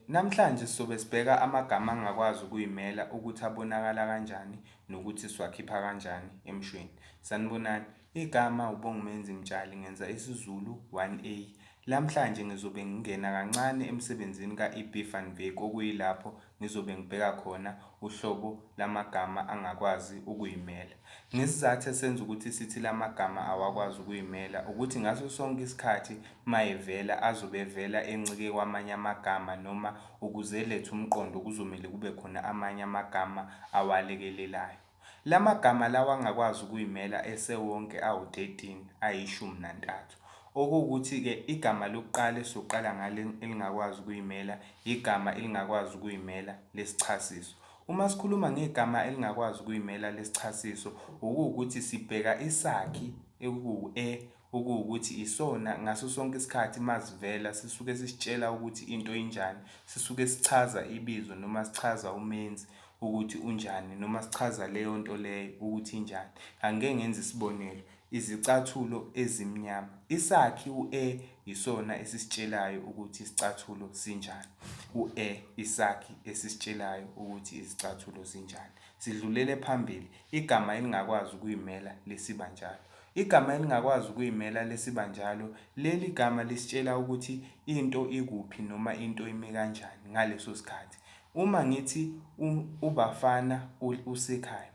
Namhlanje sizobe sibheka amagama angakwazi ukuyimela ukuthi abonakala kanjani nokuthi siwakhipha kanjani emshweni. Sanibonani, igama uBongumenzi Mtshali ngenza isiZulu 1A. Lamhlanje ngizobe ngingena kancane emsebenzini ka-EB van Wyk okuyilapho ngizobe ngibheka khona uhlobo lamagama angakwazi ukuyimela. Ngesizathu esenza ukuthi sithi lamagama awakwazi ukuyimela ukuthi ngaso sonke isikhathi mayevela azobe evela encike kwamanye amagama noma ukuze elethe umqondo kuzomele kube khona amanye amagama awalekelelayo. Lamagama lawa angakwazi ukuyimela esewonke awu-13, ayishumi nantathu. Okuwukuthi-ke igama lokuqala esizoqala ngalo elingakwazi ukuyimela, yigama elingakwazi ukuyimela lesichasiso. Uma sikhuluma ngegama elingakwazi ukuyimela lesichasiso, okuwukuthi sibheka isakhi ekuwu-e okuwukuthi isona ngaso sonke isikhathi masivela sisuke sisitshela ukuthi into injani, sisuke sichaza ibizo noma sichaza umenzi ukuthi unjani noma sichaza leyo nto leyo ukuthi injani. Angike ngenze isibonelo, izicathulo ezimnyama. Isakhi u-e yisona esisitshelayo ukuthi isicathulo sinjani. U-e isakhi esisitshelayo ukuthi izicathulo zinjani. Sidlulele phambili, igama elingakwazi ukuyimela lisiba njalo. Igama elingakwazi ukuyimela lesibanjalo, leli gama lisitshela ukuthi into ikuphi noma into imi kanjani ngaleso sikhathi. Uma ngithi u, uBafana u, usekhaya.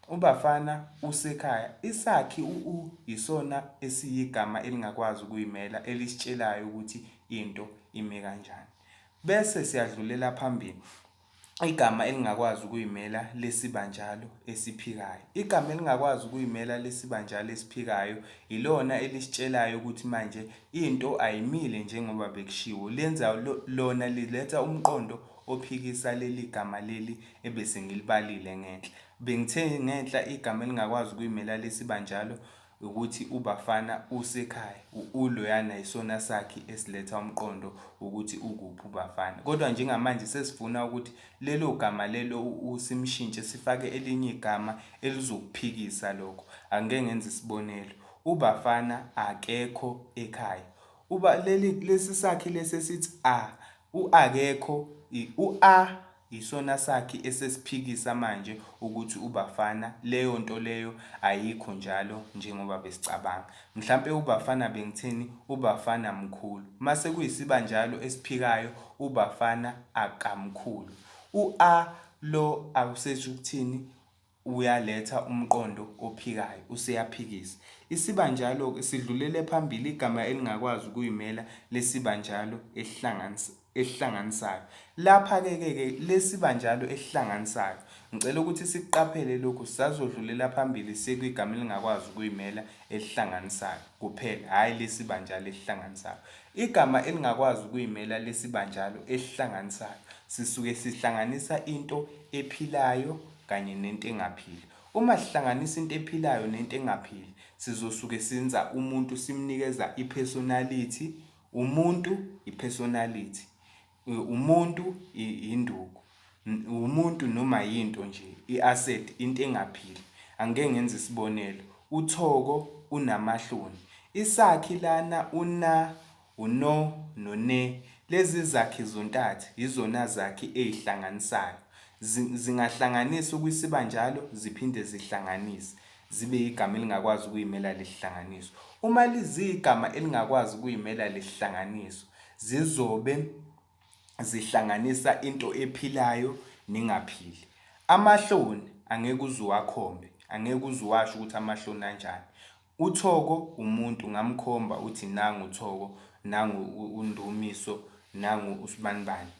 UBafana usekhaya, isakhi u, u yisona esiyigama elingakwazi ukuyimela elisitshelayo ukuthi into imi kanjani. Bese siyadlulela phambili. igama elingakwazi ukuyimela lesibanjalo esiphikayo. Igama elingakwazi ukuyimela lesibanjalo esiphikayo ilona elisitshelayo ukuthi manje into ayimile njengoba bekushiwo. Lenza lona liletha umqondo ophikisa leli gama leli ebese ngilibalile ngenhla. Bengithe ngenhla igama elingakwazi ukuyimela lesibanjalo ukuthi u Bafana usekhaya u u loyana yisona sakhi esiletha umqondo wokuthi ukuphi u Bafana kodwa njengamanje sesifuna ukuthi lelo gama lelo u u simshintshe sifake elinye igama elizokuphikisa lokho angike ngenze isibonelo u Bafana akekho ekhaya uba leli lesisakhi lesi esithi a u akekho i u a Yisona sakhi esesiphikisa manje ukuthi uBafana leyo nto leyo ayikho njalo njengoba besicabanga. Mhlampe uBafana bengithini uBafana mkhulu. Mase kuyisibanjalo esiphikayo uBafana akamkhulu. U a lo awusethi ukuthini Uyaletha umqondo ophikayo, useyaphikisa. Isibanjalo-ke sidlulele phambili igama elingakwazi ukuyimela lesibanjalo esihlanganisayo. Lapha-ke ke ke lesibanjalo esihlanganisayo, ngicela ukuthi sikuqaphele lokhu, sazodlulela phambili sekwigama elingakwazi ukuyimela elihlanganisayo kuphela, hhayi lesibanjalo esihlanganisayo. Igama elingakwazi ukuyimela lesibanjalo esihlanganisayo sisuke sihlanganisa into ephilayo kanye nento engaphili. Uma sihlanganisa into ephilayo nento engaphili, sizosuke senza umuntu simnikeza i-personality, umuntu i-personality, umuntu induku, umuntu noma yinto nje, i-asset, into engaphili. Angike ngenze isibonelo, uThoko unamahloni. Isakhi lana una uno none, lezi zakhi zontathu yizona zakhi eyihlanganisayo. Zi, zingahlanganisa ukwisibanjalo ziphinde zihlanganise zibe yigama elingakwazi ukuyimela lihlanganiso. Uma liziyigama elingakwazi ukuyimela lihlanganiso, zizobe zihlanganisa into ephilayo nengaphili. Amahloni angeke uze uwakhombe, angeke uze uwasho ukuthi amahloni anjani. UThoko umuntu ngamkhomba uthi nangu Thoko nangu uNdumiso nangu uSbanibani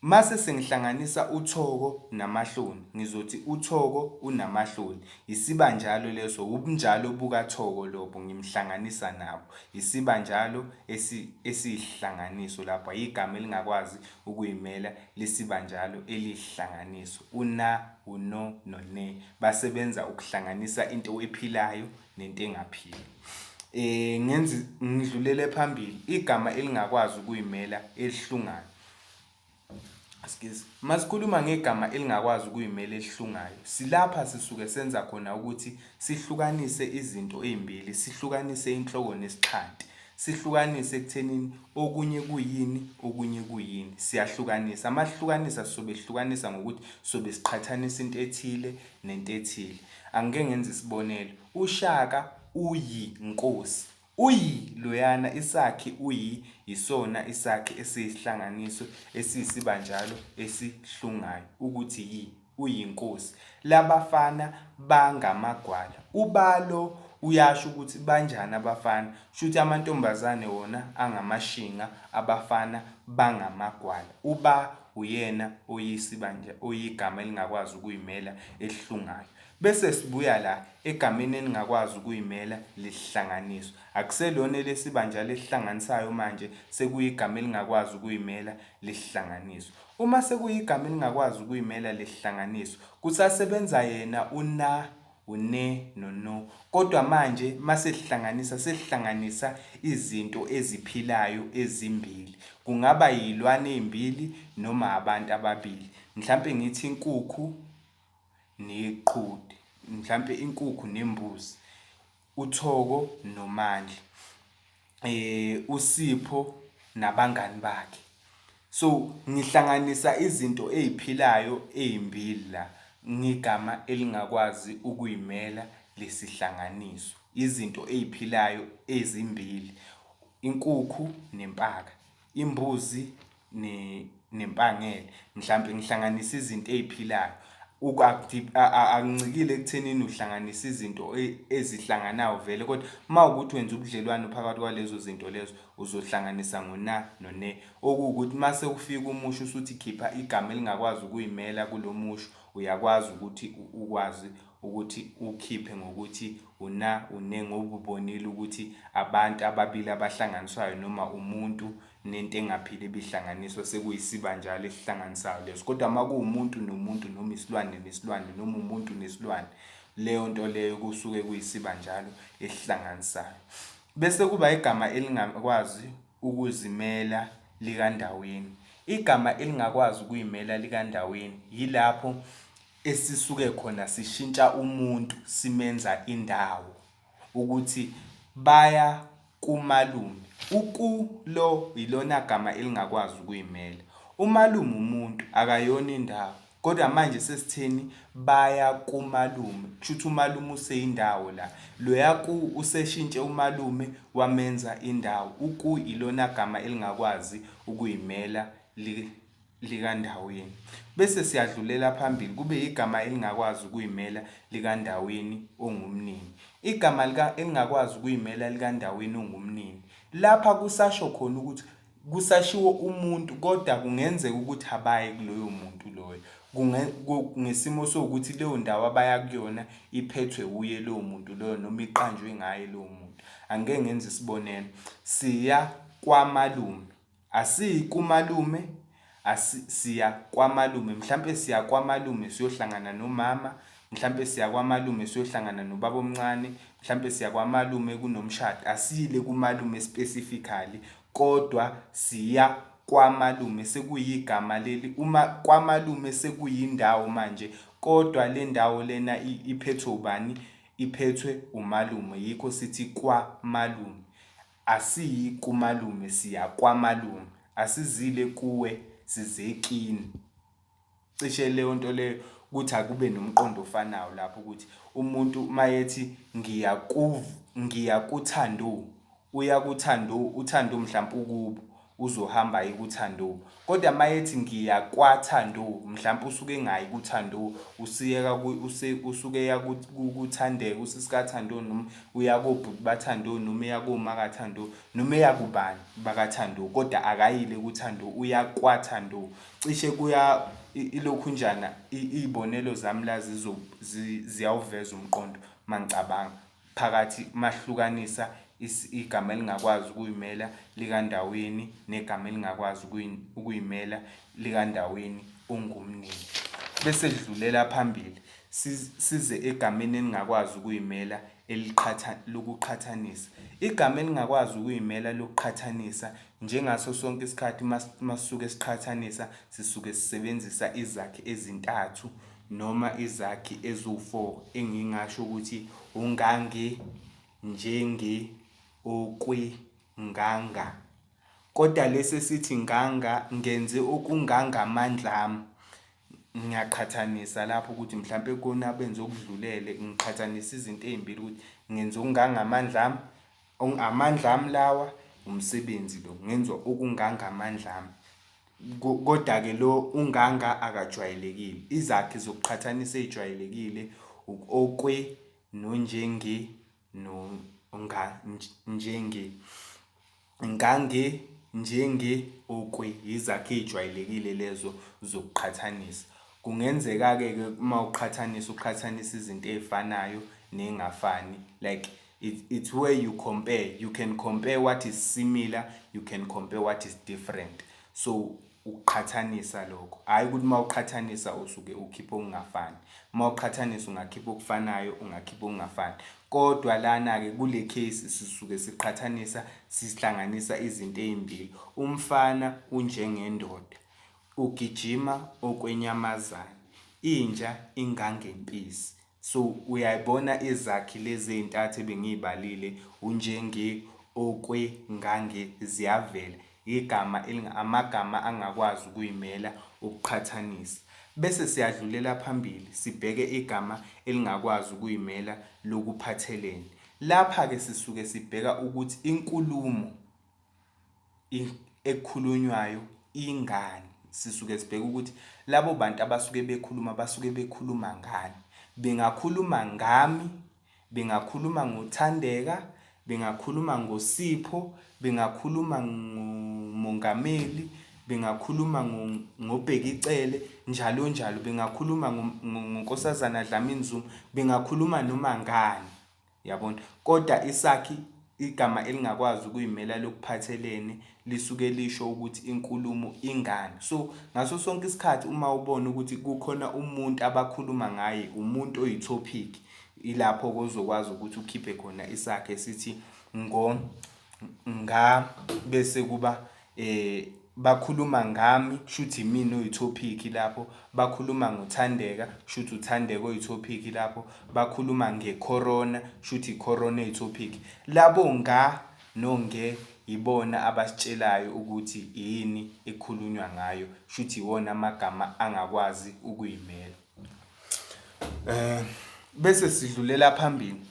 mase sengihlanganisa uThoko namahloni ngizothi uThoko unamahloni yisibanjalo leso wubunjalo buka Thoko lobo ngimhlanganisa nabo yisibanjalo esiyihlanganiso lapho ayigama elingakwazi ukuyimela lisibanjalo eliyihlanganiso, u-na, u-no no-ne basebenza ukuhlanganisa into ephilayo nento engaphili. Eh ngenzi ngidlulele phambili igama elingakwazi ukuyimela elihlungayo. Excuse. Masikhuluma ngegama elingakwazi ukuyimela elihlungayo. Silapha sisuke senza khona ukuthi sihlukanise izinto ezimbili, sihlukanise inhloko nesixhanti. Sihlukanise ekuthenini okunye kuyini, okunye kuyini. Siyahlukanisa. Uma sihlukanisa sizobe sihlukanisa ngokuthi sizobe siqhathanisa into ethile nento ethile. Angike ngenze isibonelo. UShaka uyinkosi. Uyi loyana isakhi uyi yisona isakhi esiyisihlanganiso esiyisibanjalo esihlungayo ukuthi yi. uyinkosi labafana bangamagwala ubalo uyasho ukuthi banjani abafana shuthi amantombazane wona angamashinga abafana bangamagwala uba uyena oyisibanja oyigama elingakwazi ukuyimela elihlungayo bese sibuya la egameni elingakwazi ukuyimela lihlanganiswa akuselona elesibanja lesihlanganisayo manje sekuyigama elingakwazi ukuyimela lihlanganiswa Uma sekuyigama elingakwazi ukuyimela lesihlanganiso, kusasebenza yena uNa, uNe noNo, kodwa manje masesihlanganisa sesihlanganisa izinto eziphilayo ezimbili, kungaba yilwane eyimbili noma abantu ababili, mhlampe ngithi inkukhu neqhude, mhlampe inkukhu nembuzi. uThoko noMandli, uSipho nabangani bakhe. So ngihlanganisa izinto ey'philayo ey'mbili la ngegama elingakwazi ukuyimela lesihlanganiso. Izinto ey'philayo ezimbili, inkukhu nempaka, imbuzi nempangele mhlawumbe ngihlanganisa izinto ey'philayo akuncikile ekuthenini uhlanganisa izinto e, ezihlanganayo vele kodwa uma ukuthi wenza ubudlelwano phakathi kwalezo zinto lezo uzohlanganisa ngona none okuwukuthi uma sekufika umusho usuthi khipha igama elingakwazi ukuyimela kulo musho uyakwazi ukuthi ukwazi ukuthi ukhiphe ngokuthi una une ngobubonile ukuthi abantu ababili abahlanganiswayo noma umuntu nento engaphili ibihlanganiswa sekuyisibanjalo esihlanganisayo leso kodwa uma kuwumuntu nomuntu noma isilwane nesilwane noma umuntu nesilwane leyo nto leyo kusuke kuyisibanjalo esihlanganisayo bese kuba igama elingakwazi ukuzimela likandaweni igama elingakwazi ukuyimela likandaweni yilapho esisuke khona sishintsha umuntu simenza indawo ukuthi baya kumalume. Uku lo yilona gama elingakwazi ukuyimela. Umalume umuntu akayona indawo. Kodwa manje sesithini baya kumalume. Kushuthi umalume useyindawo la. Loya ku useshintshe umalume wamenza indawo. Uku yilona gama elingakwazi ukuyimela li likandaweni, bese siyadlulela phambili kube yigama elingakwazi ukuyimela likandaweni ongumnini. Igama lika elingakwazi ukuyimela likandaweni ongumnini. Lapha kusasho khona ukuthi kusashiwo umuntu kodwa kungenzeka ukuthi abayi kuloyo muntu loyo. Ngesimo sokuthi leyo ndawo abaya kuyona iphethwe wuye lowo muntu loyo noma iqanjwe ngaye lowo muntu. Angike ngenze isibonelo, siya kwamalume. Asiyi kumalume asi siya kwamalume mhlampe siya kwamalume siyohlangana nomama mhlampe siya kwamalume siyohlangana nobaba omncane mhlampe siya kwamalume kunomshado asiyile kumalume specifically kodwa siya kwamalume sekuyigama leli uma kwamalume sekuyindawo manje kodwa le ndawo lena iphethwe ubani iphethwe umalume yikho sithi kwamalume Asiyi kumalume siya kwamalume asizile kuwe sizekini cishe leyo nto leyo ukuthi akube nomqondo ofanayo lapho ukuthi umuntu mayethi ngiya ngiya kuthando uya kuthando uthando mhlawumbe ukubo uzohamba aye ku Thandu kodwa mayethi ngiya kwa Thandu mhlampe usuke engayi ku Thandu usiyeka usuke eya ku Thandeka usisika Thandu noma uya kobhuti ba Thandu noma eya koma ka Thandu noma eya kubani baka Thandu kodwa akayile ku Thandu uya kwa Thandu cishe kuya ilokhu njana izibonelo zami la ziyawuveza umqondo mangicabanga phakathi mahlukanisa igama elingakwazi ukuyimela likandaweni negama elingakwazi ukuyimela likandaweni ungumnini bese lidlulela phambili size egameni elingakwazi ukuyimela eliqhatha lokuqhathanisa igama elingakwazi ukuyimela lokuqhathanisa njengaso sonke isikhathi masuke siqhathanisa sisuke sisebenzisa izakhi ezintathu noma izakhi eziwu-4 engingasho ukuthi ungange, njenge, okwe, nganga. Kodwa lesi esithi nganga ngenze okungangamandla ami. Ngiyaqhathanisa lapho ukuthi mhlawumbe kona abenze okudlulele ngiqhathanisa izinto ezimbili ukuthi ngenze okungangamandla ami, amandla ami lawa umsebenzi lo ngenza okungangamandla ami. Kodake lo uNganga akajwayelekile. Izakhi zokuqhathanisa ezijwayelekile uk'okwe nonjenge no nga njenge. Ngange njenge okwe yizakhi ezijwayelekile lezo zokuqhathanisa. Kungenzeka-ke ke uma uqhathanisa uqhathanisa izinto ezifanayo ney'ngafani like. It's, it's where you compare. You can compare what is similar, you can compare what is different. So ukuqhathanisa lokho hhayi ukuthi uma uqhathanisa usuke ukhipha okungafani uma uqhathanisa ungakhipha okufanayo ungakhipha okungafani kodwa lana-ke kule case sisuke siqhathanisa sihlanganisa izinto ey'mbili umfana unjengendoda ugijima okwenyamazane inja ingangempisi So uyayibona izakhi lezi ezintathu ebengiyibalile unjenge okwe ngange ziyavela igama elinga amagama angakwazi ukuyimela ukuqhathanisa. Bese siyadlulela phambili sibheke igama elingakwazi ukuyimela lokuphathelene. Lapha ke sisuke sibheka ukuthi inkulumo. ekukhulunywayo ingani sisuke sibheke ukuthi labo bantu abasuke bekhuluma basuke bekhuluma ngani bengakhuluma ngami bengakhuluma ngothandeka bengakhuluma ngosipho bengakhuluma ngomongameli bengakhuluma ngobheka icele njalo njalo bengakhuluma ngonkosazana Dlamini Zuma bengakhuluma noma ngani Yabona? Kodwa isakhi, igama elingakwazi ukuyimela lokuphathelene, lisuke lisho ukuthi inkulumo ingani. So, ngaso sonke isikhathi uma ubona ukuthi kukhona umuntu abakhuluma ngaye, umuntu oyi-topic, ilapho-ke ozokwazi ukuthi ukhiphe khona isakhi esithi ngo, nga, bese kuba Eh bakhuluma ngami kushuthi imina oyithophikhi lapho, bakhuluma ngoThandeka kushuthi uThandeka oyithophikhi lapho, bakhuluma ngeCorona kushuthi iCorona eyithophikhi. Labo nga no nge yibona abasitshelayo ukuthi yini ekukhulunywa ngayo, kushuthi iwona amagama angakwazi ukuyimela. Bese sidlulela phambili,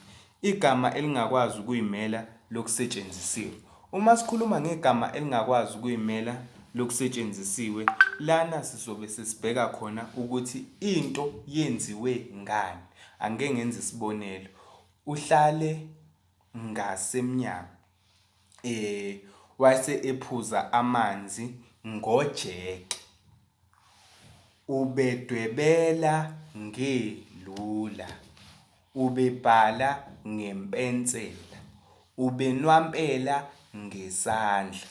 igama elingakwazi ukuyimela lokusetshenzisiwe. Uma sikhuluma ngegama elingakwazi ukuyimela lokusetshenzisiwe, lana sizobe sesibheka khona ukuthi into yenziwe ngani. Angike ngenze isibonelo, uhlale ngasemnyango wase ephuza amanzi ngojeke. Ubedwebela ngelula, ubebhala ngempensela, ubenwampela ngesandla,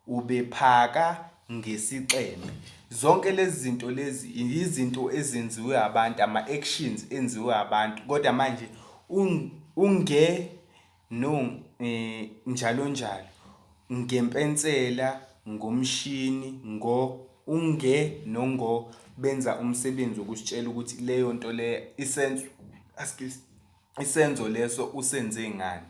ubephaka ngesixeme. Zonke lezi zinto lezi yizinto ezenziwe abantu, ama-actions enziwe abantu kodwa manje unge. no njalonjalo ngempensela ngomshini ngo unge nongo benza umsebenzi wokusitshela ukuthi leyo nto le isenzo isenzo leso usenze ngani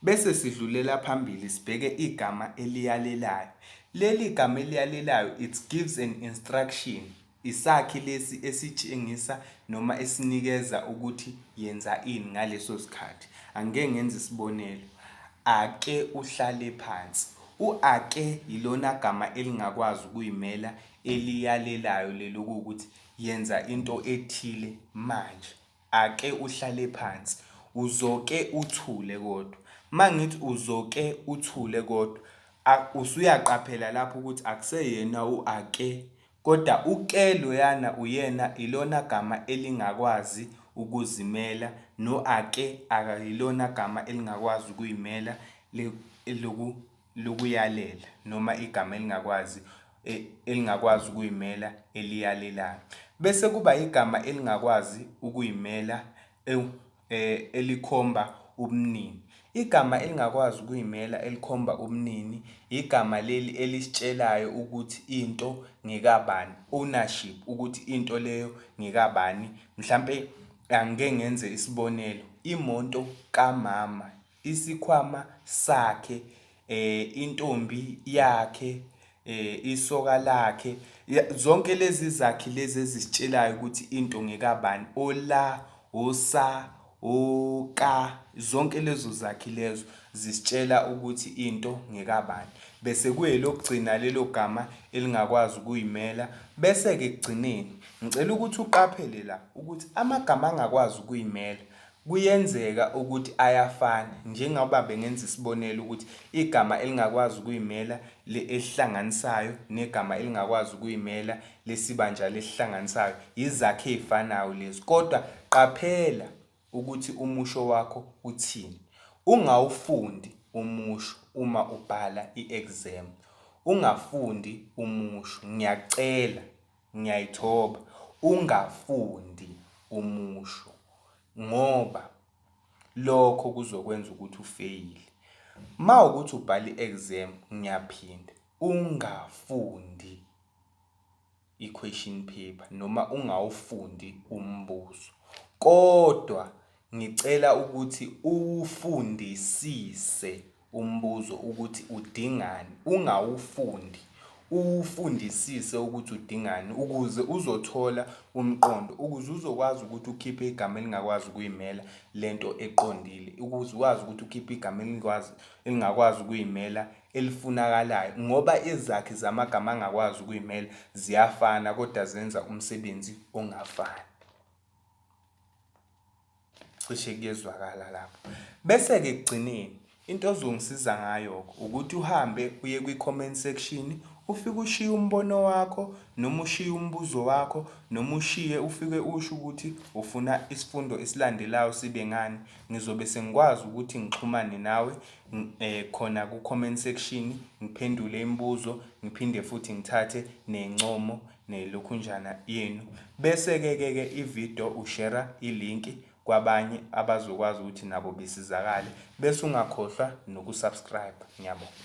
bese sidlulela phambili sibheke igama eliyalelayo leli gama eliyalelayo it gives an instruction Isakhi lesi esitshengisa noma esinikeza ukuthi yenza ini ngaleso sikhathi. Angike ngenze isibonelo, Ake uhlale phansi. U-ake yilona gama elingakwazi ukuyimela eliyalelayo leli okuwukuthi yenza into ethile manje. Ake uhlale phansi. Uzoke uthule kodwa. Uma ngithi uzoke uthule kodwa, usuyaqaphela lapho ukuthi akuseyena u-ake Koda uke loyana uyena ilona gama elingakwazi ukuzimela no ake ayilona gama elingakwazi ukuyimela eloku lokuyalela noma igama elingakwazi e, elingakwazi ukuyimela eliyalelayo bese kuba igama elingakwazi ukuyimela e, elikhomba ubunini. Igama elingakwazi ukuyimela elikhomba ubunini yigama leli elisitshelayo ukuthi into ngekabani, ownership, ukuthi into leyo ngekabani. Mhlampe angike ngenze isibonelo, imoto kamama isikhwama sakhe, intombi yakhe, isoka lakhe, zonke lezi zakhi lezi ezisitshelayo ukuthi into ngekabani, ola, osa, oka, zonke lezo zakhi lezo zisitshela ukuthi into ngekabani. Bese kuyelokugcina lelo gama elingakwazi ukuyimela, bese-ke ekugcineni ngicela ukuthi uqaphele la ukuthi amagama angakwazi ukuyimela Kuyenzeka ukuthi ayafana, njengoba bengenza isibonelo ukuthi igama elingakwazi ukuyimela le elihlanganisayo negama elingakwazi ukuyimela lesibanjalo elihlanganisayo yizakhi ezifanayo lezi. Kodwa qaphela ukuthi umusho wakho uthini. Ungawufundi umusho uma ubhala i-exam. Ungafundi umusho. Ngiyakucela. Ngiyayithoba ungafundi umusho ngoba lokho kuzokwenza ukuthi ufeyile. Mawukuthi ubhala i-exam ngiyaphinda ungafundi i-question paper noma ungawufundi umbuzo kodwa Ngicela ukuthi uwufundisise umbuzo ukuthi udingani, ungawufundi, uwufundisise ukuthi udingani ukuze uzothola umqondo, ukuze uzokwazi ukuthi ukhiphe igama elingakwazi ukuyimela le nto eqondile, ukuze ukwazi ukuthi ukhiphe igama elingakwazi, elingakwazi ukuyimela elifunakalayo ngoba izakhi zamagama angakwazi ukuyimela ziyafana kodwa zenza umsebenzi ongafani. cishe kuyezwakala lapho bese-ke ekugcineni into ozongisiza ngayo-ke ukuthi uhambe uye kwi-comment section ufike ushiye umbono wakho noma ushiye umbuzo wakho noma ushiye ufike usho ukuthi ufuna isifundo esilandelayo sibe ngani ngizobe sengikwazi ukuthi ngixhumane nawe um khona ku-comment section ngiphendule imibuzo ngiphinde futhi ngithathe nencomo nelokhunjana yenu bese ke ke ke ivideo ushera ilink kwabanye abazokwazi ukuthi nabo besizakale bese ungakhohlwa nokusubscribe ngiyabonga